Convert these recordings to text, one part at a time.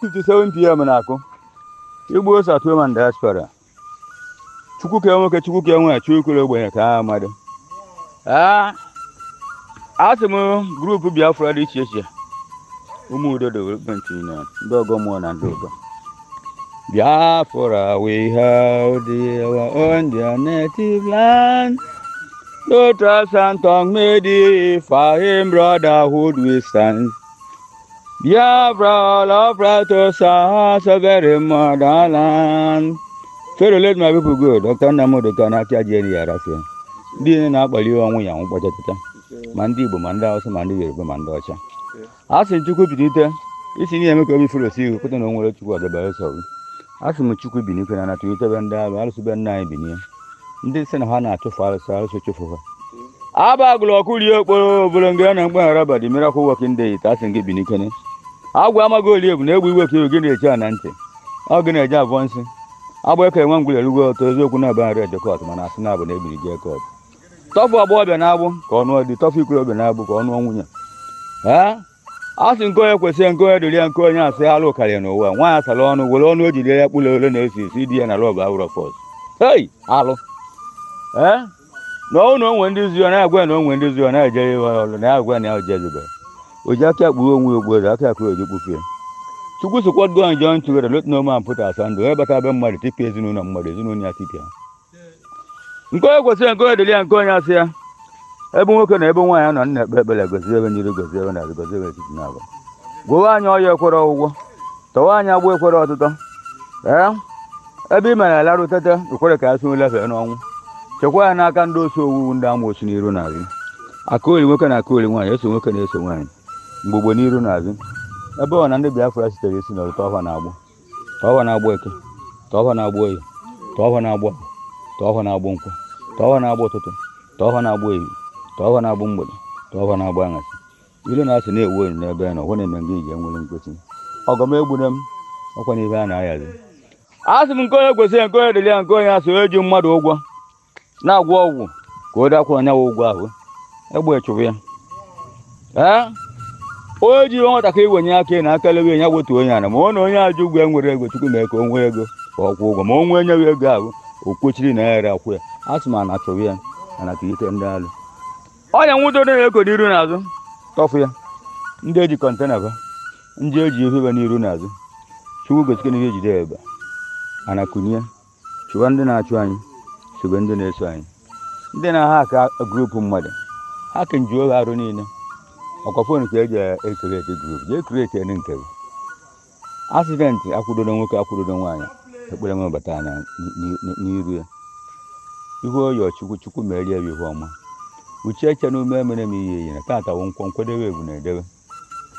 7 pm na-akụ igbos at home and diaspora chukwu ka nwoke chukwu ka nwe chukwu kwere ogbenye ka ha mmadụ asị m group biafra dị iche iche ụmụ udo development union ndị ọgọ mmụọ na ndị ụgọ biafra we hail thee our own dear native land though tribes and tongue may differ in brotherhood we stand Biafra all proud to serve our sovereign motherland. Pharaoh let my people go. Dr. Nnamdi Kanu achị aja eri ya rafia. Ndị niile na-akpali ọnwụ ya nwụkpọcha taata. Ma ndị Igbo, ma ndị Hausa, ma ndị Yoruba, ma ndị ọcha. A sị Chukwu binite, isi na-eme ka obi furu osi ihu pụta na o nwerọ Chukwu ọdọ beelụ sọ. asị m chukwu binikene anatụ itebe ndị arụ arụsị be nna anyị binie ndị sị na ha na-achụfụ arụsị arụsị chụfụ ha Haba Agụlụ ọkụ rie okporo obere ngene na mgbaghara badi miracle working deity asị gị binikene agwa amaghị oli egwu na egwu iwe ka iwe gị na-eche a na ntị ọ gị na-eje avọ nsị agba eke nwa ngwụlere ugwe ọtọ eziokwu na aba nri edekọt mana asị na abụ na ebiri jee kọt tọfụ agbọghọbịa n'agbụ ka ọ nụọ di tọfụ ikorobịa n'agbụ ka ọ nụọ nwunye ha a sị nke onye kwesịrị nke onye dịrị ya nke onye asị alụ karịa n'ụwa nwaanyị asara ọnụ were ọnụ o jiri ya kpụrụ ole n'isi sị di ya na love awụrọ force hei alụ ee na ọnwụ na o nwe ndị zi ọ na-agwa na o nwe ndị zi ọ na-ejere fa ọrụ na agwa na ya o jezibe o ji aka kpuo onwe ya okpu ọzọ aka akụrụ o ji kpufie chukwu sị what God join together let no man put asunder onye bata be mmadụ tipịa ezinụlọ mmadụ ezinụlọ ya tipịa nke onye kwesịrị nke onye dịrị ya nke onye asị ya ebe nwoke na ebe nwaanyị nọ na-ekpe ekpere gozie fa n'iru gozie fa n'azụ gozie fa etiti naabọ gwọwa anyị ọya ekwerọ ọgwụgwọ tọwa anyị agbụ ekwerọ ọtụtọ ee ebe ị mere a larụ teta ekwere ka anyị si n'ụla fee n'ọnwụ chekwa anyị n'aka ndị osi owuwu ndị amoosu n'iru n'azụ akaoli nwoke na akaoli nwaanyị eze nwoke na eze nwaanyị mgbogbo n'iru n'azụ ebe ọ bụna ndị Biafra sitere isi n'ọrụ tọọ fa n'agbụ tọọ fa n'agbụ eke tọọ fa n'agbụ oye tọọ fa n'agbụ afọ tọọ fa n'agbụ nkwọ tọọ fa n'agbụ ụtụtụ tọọ fa n'agbụ efifie tọọ fa n'agbụ mgbede tọọ fa n'agbụ aṅasị ilu na-asị na-ewu elu n'ebe ya na ọgwụ na-eme ngaji enwerọ mkpuchi ọgọ m egbune m ọ kwanụ ife a na-ahazi asị m nke onye kwesịrị nke onye dịrị ya nke onye asị onye ji mmadụ ụgwọ na-agwọ ọgwụ ka o dakwuru onye ụgwọ ahụ egbe chụrụ ya ee onye ji ife nwatakịrị wenie aka enu aka lewe ya wetuo ya ana ma ọ na onye a ji ụgwọ enwerọ ego chukwu mee ka o nwee ego ka ọ kwụọ ụgwọ ma o nwee enyeghị ego ahụ o kwechiri na ya ere akwụ ya asị m ana chụrụ ya mana ka ike ndị alụ ọnya nwụdo dị na-eko n'iru n'azụ tọfụ ya ndị e ji container fa ndị e ji ife fa n'iru n'azụ chukwu gosikwa na ihe ejide ebe ana kunye chụwa ndị na-achụ anyị sobe ndị na-eso anyị ndị na-ahaka grupu mmadụ ha ka nju oge arụ niile ọkwa fon ka eji ekreti grup jee kretie nke gị asidenti akwụdodo nwoke akwụdodo nwaanyị ekpere nwe bata anya n'iru ya ihu oyo chukwu chukwu merie ya ihu ọma uche eche na ume emere m ihe iyi na tata wụ nkwọ nkwedewe ebu na-edewe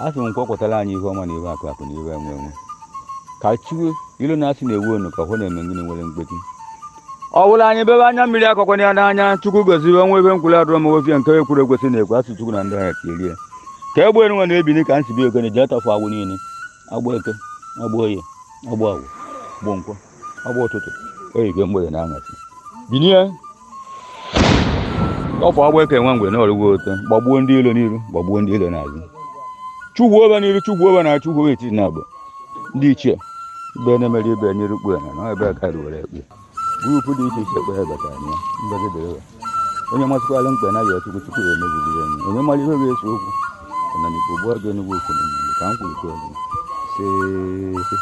a sị m nkwọ kwọtara anyị ihe ọma na ihe akụ akụ na ihe enwe enwe ka chiwe ilo na asị na-ewu onu ka hụ na-eme ngịnị nwere mgbeti ọ bụla anyị bebe anya mmiri akọkwana ya n'anya chukwu goziwe nwa ebe nkwụrụ adịrọ m ofie nke ekwuru ekwesị na-ekwu asụ chukwu na ndị ha erie ka egbe nwa na-ebini ka nsi bi ogene jee tọfụ agbụ niile agbụ eke agbụ oye agbụ afọ agbụ nkwọ agbụ ụtụtụ oyike mgbede na aṅasị binie tọfụ agbụ eke nwa mgbe na ọrụgwo ote gbagbuo ndị ilo n'iru gbagbuo ndị ilo n'azụ chugwu obe n'iru chugwu obe na chugwu obe etiti na abụ ndị ichie ibe na-emere ibe n'iru kpue na na ebe a ka ruwere ekpe grupu dị iche iche kpee batara ya mbegedere onye masịkwala mkpe na ya chukwu chukwu ya emeziriri enyi onye mara ihe ga-ese okwu na n'ikwu gbuo gị enugwu okwu na mmadụ ka m kwuru kwuo gị isee